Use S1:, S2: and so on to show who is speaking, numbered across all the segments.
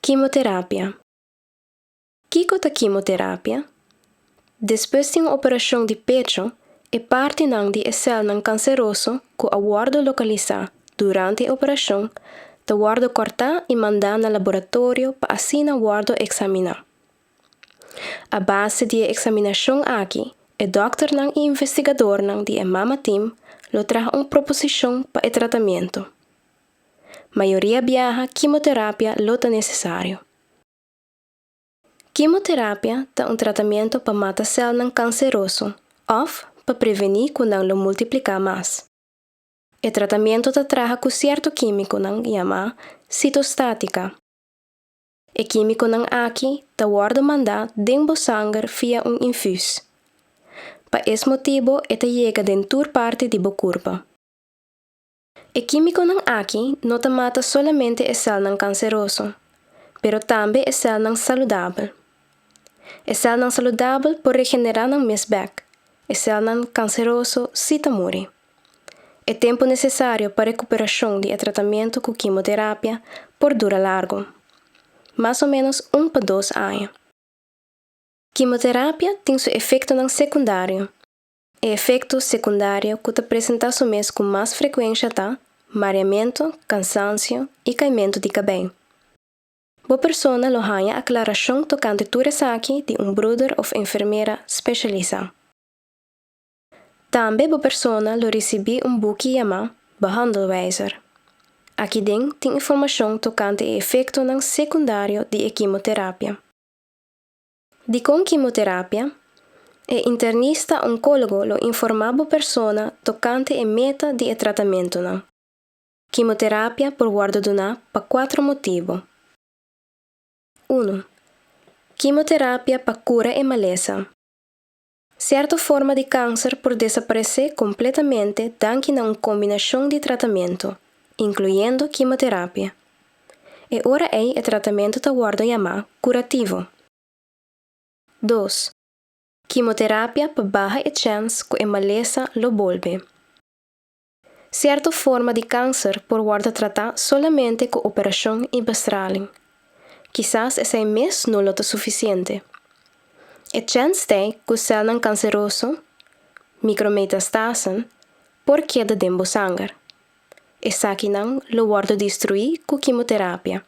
S1: Kimoterapia. Kiko ta kimoterapia? Despues di un operashon di pecho, e partinan di e sèlnan kanseroso ku a wòrdu lokalisá durante e operashon ta wòrdu kòrtá i mandá na laboratorio pa asina wòrdu eksaminá. A base di e eksaminashon aki, e dòkternan i investigadornan di e Mama Team lo traha un proposishon pa e tratamentu. Mayoria biaha kimoterapia lo ta nesesario. Kimoterapia ta un tratamentu pa mata sèlnan kanseroso òf pa prevení ku nan lo multipliká mas. E tratamentu ta traha ku sierto kímikonan yamá sitostátika. E kímikonan aki ta wòrdu mandá den bo sanger via un infus. Pa es motibu e ta yega den tur parti di bo kurpa. E kímikonan aki no ta mata solamente e sèlnan kanseroso, pero tambe e sèlnan saludabel. E sèlnan saludabel por regenerá nan mes bèk, e sèlnan kanseroso sí ta muri. E tempu nesesario pa rekuperashon di e tratamentu ku kimoterapia por dura largu, mas o ménos un pa dos aña. Kimoterapia tin su efektonan sekundario. E efekto sekundario ku ta presentá su mes ku mas frekuensha ta, mareamentu, kansansio i kaimentu di kabei. Bo persona lo haña aklarashon tokante tur esaki di un bruder òf enfermera speshalisá. Tambe bo persona lo risibí un buki yamá Behandelwijzer. Aki den tin informashon tokante e efektonan sekundario di e kimoterapia. Dikon kimoterapia? E internista onkólogo lo informá bo persona tokante e meta di e tratamentunan. Kimoterapia por wòrdu duná pa kuater motibu. Unu, kimoterapia pa kura e malesa. Serto forma di kanser por desaparesé kompletamente danki na un kombinashon di tratamentu, inkluyendo kimoterapia. E ora ei e tratamentu ta wòrdu yamá kurativo. Dos, kimoterapia pa baha e chèns ku e malesa lo bolbe. Sierto forma di kanser por wòrdu tratá solamente ku operashon i bestraling. Kisas esei mes no lo ta sufisiente. E chèns t'e ku sèlnan kanseroso, mikrometastasen, por keda den bo sanger. Esakinan lo wòrdu destruí ku kimoterapia.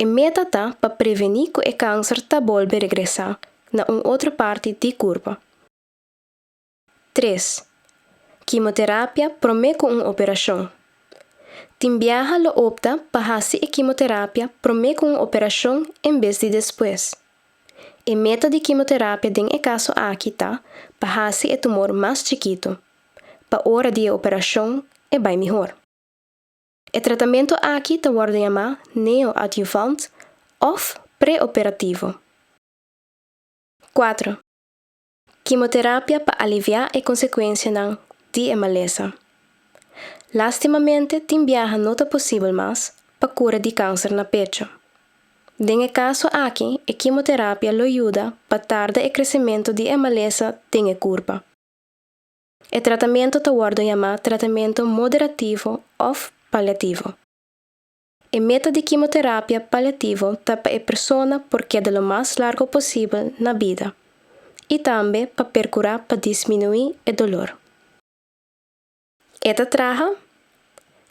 S1: E meta ta pa prevení ku e kanser ta bolbe regresá na un otro parti di kurpa. Tres, Kimoterapia promé ku un operashon. Tin biaha lo opta pa hasi e kimoterapia promé ku un operashon en bes di despues. E meta di kimoterapia den e kaso aki ta pa hasi e tumor mas chikitu, pa ora di e operashon e bai mihor. E tratamentu aki ta wòrdu yamá neoadyuvant òf preoperativo. Kuatro, Kimoterapia pa aliviá e konsekuensianan di e malesa. Lástimamente tin biaha no ta posibel mas pa kura di kanser na pecho. Den e kaso aki e kimoterapia lo yuda pa tarda e kresementu di e malesa den e kurpa. E tratamentu ta wòrdu yamá tratamentu moderativo òf paliativo. E meta di kimoterapia paliativo ta pa e persona por keda lo mas largo posibel na bida i tambe pa perkurá pa disminuí e dolor. E ta traha?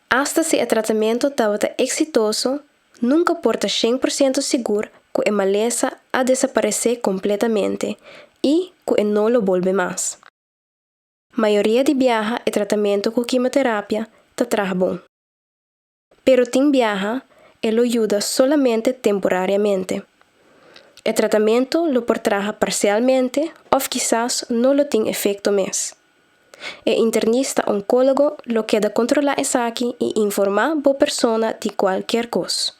S1: Asta si e tratamentu tabata eksitoso, nunka por ta shen por siento sigur ku e malesa a desaparesé kompletamente i ku e no lo bolbe mas. Mayoria di biaha e tratamentu ku kimoterapia ta traha bon. Pero tin biaha e lo yuda solamente temporariamente. E tratamentu lo por traha parsialmente òf kisas no lo tin efekto mes. E internista onkólogo lo keda kontrolá esaki i informá bo persona di kualker kos.